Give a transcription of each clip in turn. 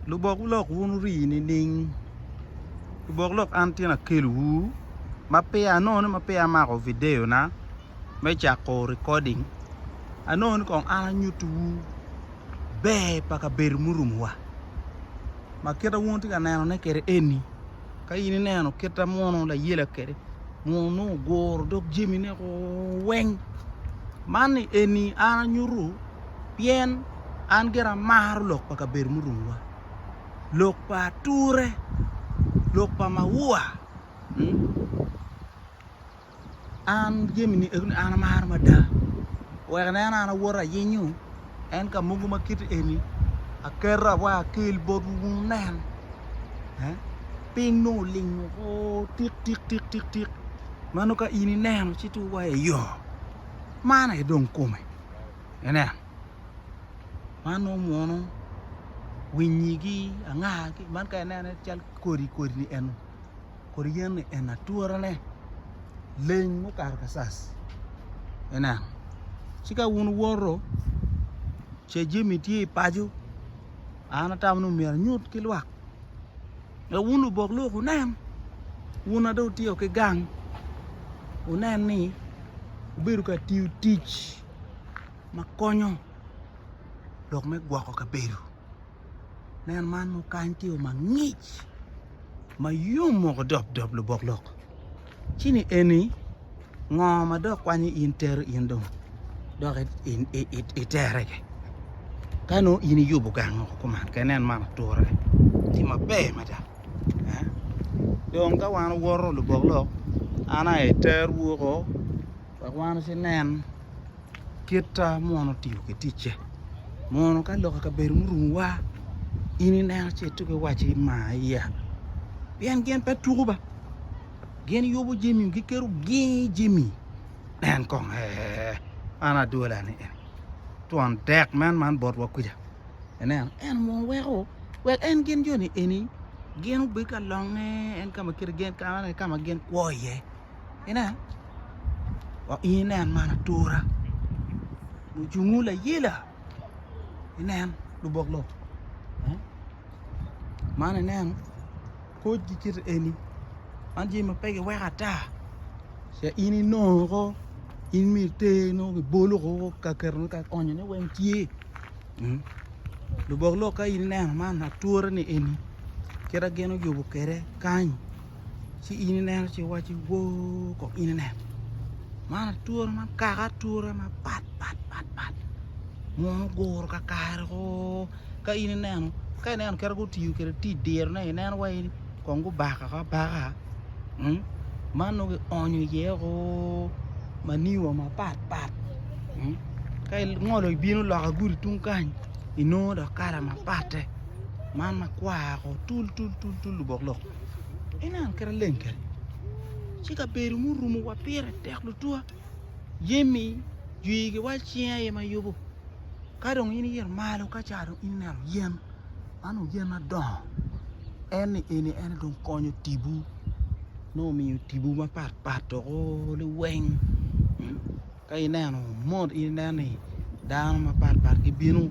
lubok lok wun wuri nining lubok lok an tye akelwu ma peya anongo ni ma peya amako video na me cako recording anongo ni kong an anyutiwu ber pa kabedo murumo wa ma kite wun wutye ka neno ne kede eni ka in ineno kite munu layela kede munu nongo oguro dog jamine weng man ni eni an anyutu pien an gira amaro lok pa kabedo murumowa, lok pa ature, lok pa maua. An jami ni eno ni an amaro mada. Wek aneno an awoto ayinyo en ka mogo ma kit eni aketo awa akel botwu wunen. Piny nongo oling woko tik tik tik tik tik ma nongo ka in ineno ci tung wa i yoo. Man aye dong kome. Inen, man nongo munu winyigi anga man ka inene cal kodi kodi ni eno kodi yen ni eno aturane leng mukato kacac inen ci ka wun wuwoto ce jami tye i paco an atamo ni myero anyut ki lwak. Ka wun lubok lok wunen, wun a dong wutyeko ki gang, wunen ni wubedo ka tiyo tic ma konyo lok me gwoko kabedo. Nen man mukany tye yo mangic ma yom moko dopdop lubok lok. ci ni eni ngo ma dok kwanyo in tero in dong dok itere gi ka nongo in iyubo gang o kuman ka inen man ature tye maber mada dong ka wan owoto lubok lok an aye aterwu woko wek wan ci nen kita ma wan otiyo ki ticce mono ka lok i kabedo murumo wa in ineno ci ituku iwaci mar iya pien gin pe tuku ba gin yubo jami giketo gingi jami en kong ee an adwola ni en twon dek man man botwa kuca ineno en munu weko wek en gin joni eni gin obed ka longe en ka ma kite gin kama ka ma gin kwo iye ineno wa in inen man atura mucungu layela inen lubok lok man ineno koc ki kite eni man jami ma pe giweko ata ce in inongo ko in myero iter nongo ki bolo ko ka keto ka konyo ne weng tye lubok lok ka in ineno man ature ni eni kite gin oyubo kwede kany ci in ineno ci iwaco ni woo kong in ineno man ature man kaka ature mapat pat pat pat munu guru kakare oo ka in ineno ka ineno kit ma gutiyo kwede ti dirone ineno wai kong gubakako abaka mm man nongo kionyo iye o maniwa mapat pat mm ka ingolo ibino loka gudi tung kany inongo dok kala mapatte man makwar ko tul tul tul tul obok lok ineno kit ma leng keni ci kabedo murumo wa pire tek tutwa Jami jwi giwaco cinge aye ma yubo. Ka dong in iyito malo ka ca dong in ineno yen ma nongo yen madongo en ni eni en aye dong konyo tibu nongo omiyo tibu mapat pat dok liweng ka ineno mot in ineno ni dano mapat pat gibino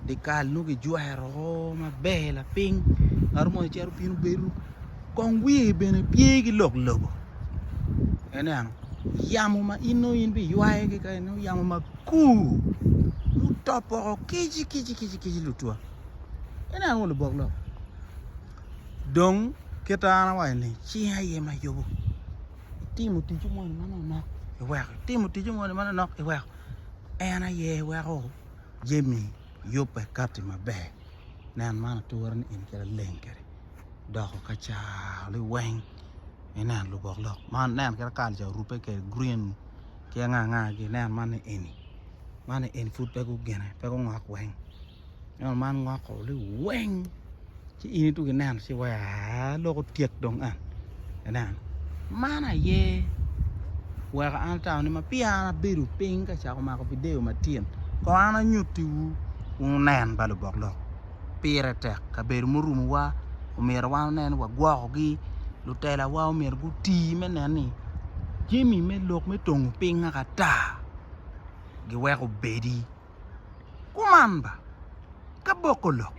dikal nongo kijwero maber lapiny ngat mo icito bino bedo kong wiye bene tye ki lok lobo ineno yamo ma in nongo in biywayo ki kany nongo yamo makur mutop woko kici kici kici kici lutwa ineno kong lubok lok dong kit ma an awaco ni cinga aye ma yubu itimo ticci moni manok nok iweko itimo ticci moni manok nok iweko en aye weko jami yubbe kati maber nen man ature ni in kit laleng kedi. doko ka car liweng inen lubok lok man nen kit ma kalane orube kwede grin ki anga anga ginen man ni eni man ni eni pud pe gugine pe gungok weng ento man ngoko liweng ci in ituku ineno ci iwaci aa lok otyek dong en inen man aye weko an atawone ma peya an abedo piny ka cako mako video matyen kong an anyutiwu wunen ba lubok lok pire tek kabedo murumowa omyero wan onen ni wagwokogi lutelawa omyero guti me nen ni jami me lok me tongo piny naka ata giweko obedi kuman ba ka boko lok.